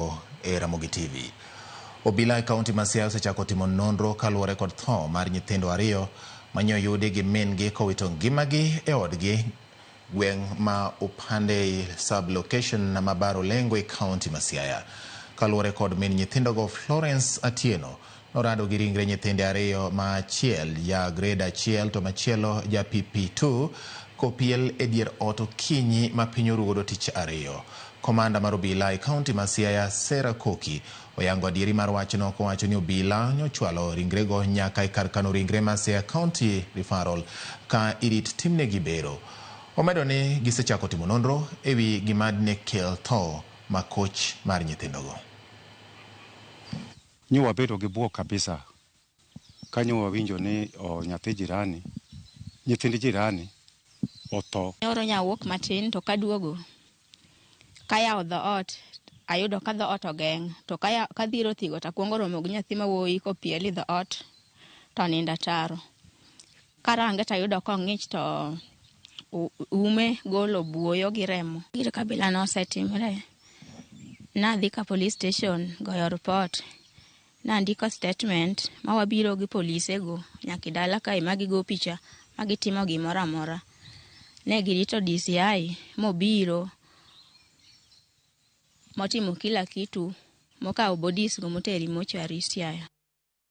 Ogo e Ramogi TV. Obila e kaunti ma Siaya osechako timo nonro kaluwore kod tho mar nyithindo ariyo manye oyudi gi min gi kowito ngimagi e odgi gweng' ma Upandei sub location ma Bar Olengo e kaunti ma Siaya. Kaluwore kod min nyithindogo Florence Atieno, Norado gi ringre nyithinde ariyo ma achiel ja grade achiel to machielo ja PP2 kopiel e dier ot okinyi ma piny orugodo tich ariyo. Komanda mar obila e kaunti ma Siaya Sarah Koki oyango adieri mar wachno kowacho ni obila nyochwalo ringrego nyaka e kar kano ringre ma Siaya County Referral ka irit timnegi bero. Omedo ni gisechako timo nonro e wi gima dine kel tho makoch mar nyithindogo. Nyo wabedo gi bwok kabisa ka nyo wawinjo ni nyathi jirani, nyithind jirani otho. Nyoro nyawuok matin to kaduogo, kayawo dhoot ayudo ka dhoot ogeng' to kadhiro thigo takwongo romo gi nyathi mawuoyi kopiel i dhoot to onindo ataro. Karange to ayudo kong'ich to ume golo buoyo gi remo. Gir kabila no osetimre. Nadhi ka police station goyo report. Nandiko statement ma wabiro gi polise go nyaka dala kae ma gigo picha ma gitimo gimoro amora. Ne girito DCI mobiro motimo kila kitu mokawo bodies go moteri mochwari Siaya.